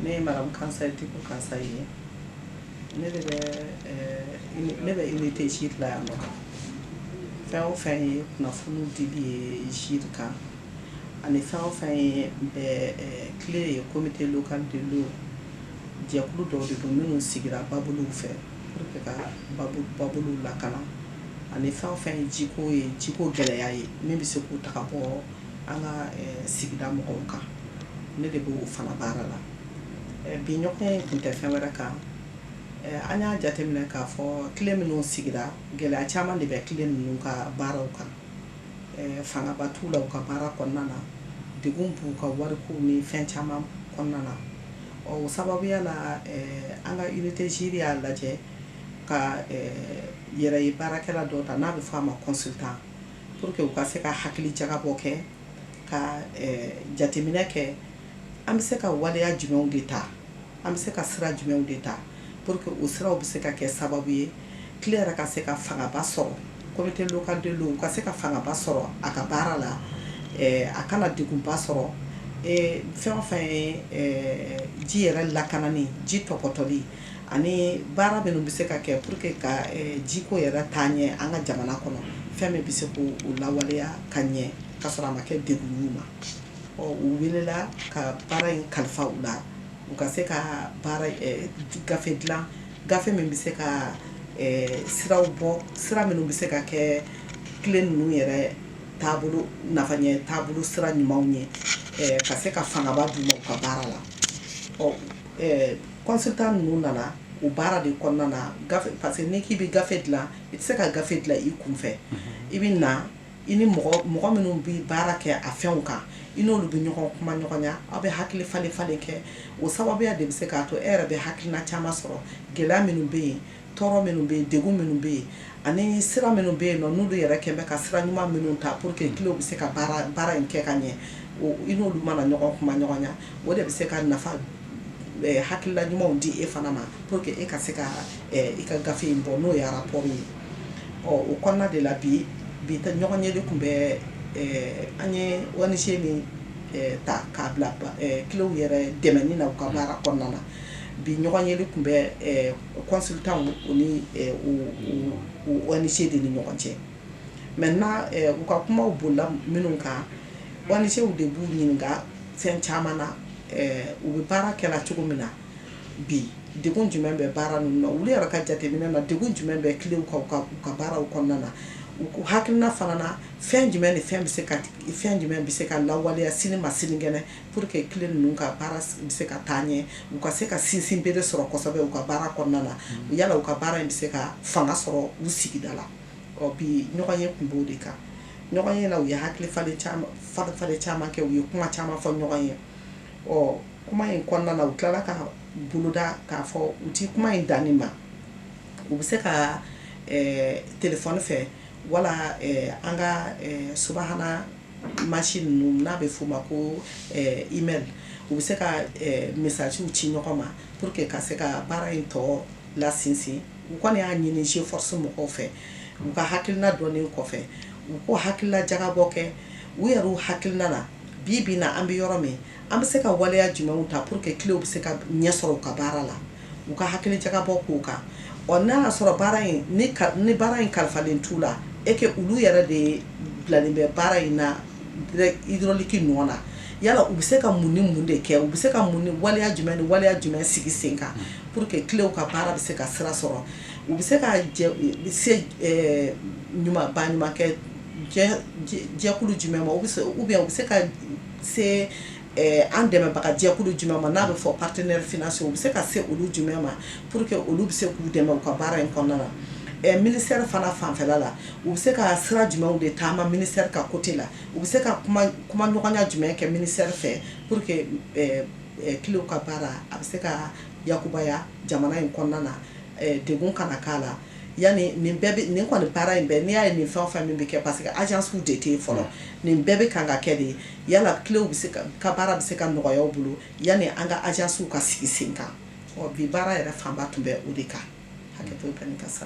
ne ye Madame Kansaye Dicko Kansaye ye ne bɛ unité GIRE la yan nɔ fɛn o fɛn ye kunnafoni dili ye GIRE kan ani fɛn o fɛn ye CLE ye comité local de l'eau jɛkulu dɔw de don minnu sigira babolow fɛ pour que ka babolow lakana ani fɛn o fɛn ye jiko ye jiko gɛlɛya ye min bɛ se k'u ta ka bɔ an ka sigida mɔgɔw kan ne de b'o fana baara la bi ɲɔgɔn ye tun tɛ fɛn wɛrɛ kan an y'a jateminɛ k'a fɔ CLE minnu sigira gɛlɛya caman de bɛ CLE ninnu ka baaraw kan fangaba t'u la u ka baara kɔnɔna na degun b'u ka wariko ni fɛn caman kɔnɔna na o sababuya la an ka unité GIRE y'a lajɛ ka yɛrɛ ye baarakɛla dɔ ta n'a bɛ fɔ a ma consultant pour que u ka se ka hakili jagabɔ kɛ ka eh, jateminɛ kɛ an bɛ se ka waleya jumɛnw de ta an bɛ se ka sira jumɛnw de ta pour que o siraw bɛ se ka kɛ sababu ye CLE yɛrɛ ka se ka fangaba sɔrɔ comité local de l'eau ka se ka fangaba sɔrɔ a ka baara la eh, a kana degunba sɔrɔ eh, fɛn o fɛn ye eh, ji yɛrɛ lakanani ji tɔpɔtɔli ani baara minnu bɛ se ka kɛ pour que ka jiko yɛrɛ taa ɲɛ an ka jamana kɔnɔ fɛn min bɛ se k'o lawaleya ka ɲɛ ka sɔrɔ a ma kɛ degun y'u ma ɔ u welela ka baara in kalifa u la u ka se ka gafe dilan gafe min bɛ se ka siraw bɔ sira minnu bɛ se ka kɛ CLE ninnu yɛrɛ taabolo nafa taabolo sira ɲumanw ye ka se ka fangaba d'u ma u ka baara la ɔ consultant ninnu nana o baara de kɔnɔna na gafe parce que n'i k'i bɛ gafe dilan i tɛ se ka gafe dilan i kun fɛ i bɛ na i ni mɔgɔ minnu bɛ baara kɛ a fɛnw kan i n'olu bɛ ɲɔgɔn kuma ɲɔgɔnya aw bɛ hakili falen falen kɛ o sababuya de bɛ se k'a to e yɛrɛ bɛ hakilina caman sɔrɔ gɛlɛya minnu bɛ yen tɔɔrɔ minnu bɛ yen degun minnu bɛ yen ani sira minnu bɛ yen nɔ n'olu yɛrɛ kɛlen bɛ ka sira ɲuman minnu ta pour que CLEw bɛ se ka baara baara in kɛ ka ɲɛ i n'olu mana ɲɔgɔn kuma ɲɔgɔnya o de bɛ se ka nafa eh, hakilila ɲumanw di e fana ma pour que e ka se ka eh, i ka gafe in bɔ n'o ye rapport ye ɔ o kɔnɔna de la bi bi ta ɲɔgɔn ye de tun bɛ eh, an ye ONG min eh, ta k'a bila ba- eh, CLEw yɛrɛ dɛmɛni na u ka baara kɔnɔna na bi ɲɔgɔn ye de tun bɛ eh, consultant o ni ONG de ni ɲɔgɔn cɛ maintenant u ka kumaw bolila minnu kan ONGw de b'u ɲininka fɛn caman na u bɛ baara kɛ cogo min na bi degun jumɛn bɛ baara ninnu na u yɛrɛ ka jateminɛ na degun jumɛn bɛ CLEw kan u ka baaraw kɔnɔna na u ka hakilina fana na fɛn jumɛn ni fɛn bɛ se ka fɛn jumɛn bɛ se ka lawaleya sini ma sinikɛnɛ Pour que CLE ninnu ka baara bɛ se ka taa ɲɛ, u ka se ka sinsin bere sɔrɔ kosɛbɛ u ka baara kɔnɔna na, yala u ka baara in bɛ se ka fanga sɔrɔ u sigida la. Ɔ bi ɲɔgɔn ye tun b'o de kan. Ɲɔgɔn ye la u ye hakili falen caman falen falen caman kɛ, u ye kuma caman fɔ ɲɔgɔn ye. Ɔ kuma in kɔnɔna na u tilala ka boloda k'a fɔ u tɛ kuma in dan nin ma. U bɛ se ka ɛɛ telefɔni fɛ wala ɛɛ an ka ɛɛ subahana machine ninnu n'a bɛ f'o ma ko email u bɛ se ka messagew ci ɲɔgɔn ma pour que ka se ka baara in tɔ lasinsin u kɔni y'a ɲini G Force mɔgɔw fɛ u ka hakilina dɔnnen kɔfɛ u k'o hakilila jagabɔ kɛ u yɛrɛw hakilina na bi bi in na an bɛ yɔrɔ min An bɛ se ka waleya jumɛnw ta pour que CLEw bɛ se ka ɲɛ sɔrɔ u ka baara la, u ka hakili jagabɔ k'o kan, ɔ n'a y'a sɔrɔ baara in ni ka ni baara in kalifalen t'u la et que olu yɛrɛ de bilalen bɛ baara in na direct hydraulique nɔ na, yala u bɛ se ka mun ni mun de kɛ? U bɛ se ka mun ni waleya jumɛn ni waleya jumɛn sigi sen kan pour que CLEw ka baara bɛ se ka sira sɔrɔ? U bɛ se ka jɛ se ɛɛ ɲuman baɲumankɛ jɛ jɛkulu jumɛn ma ou bien u bɛ se ka se an dɛmɛbagajɛkulu jumɛn ma n'a bɛ fɔ partenaire financier u bɛ se ka se olu jumɛn ma pour que olu bɛ se k'u dɛmɛ u ka baara in kɔnɔna na ɛ ministère fana fanfɛla la u bɛ se ka sira jumɛnw de taama ministère ka côté la u bɛ se ka kuma ɲɔgɔnya jumɛn kɛ ministère fɛ pour que CLEw ka baara a bɛ se ka yakubaya jamana in kɔnɔna na degun kana k'a la yani nin kɔni baara in bɛɛ n'i y'a ye nin fɛn o fɛn min bɛ kɛ parce que agencew de tɛ yen fɔlɔ nin bɛɛ bɛ kan ka kɛ de yala CLEw bɛ se ka baara bɛ se ka nɔgɔya u bolo yani an ka agencew ka sigi sen kan bi baara yɛrɛ fanba tun bɛ o de kan hakɛ ka sa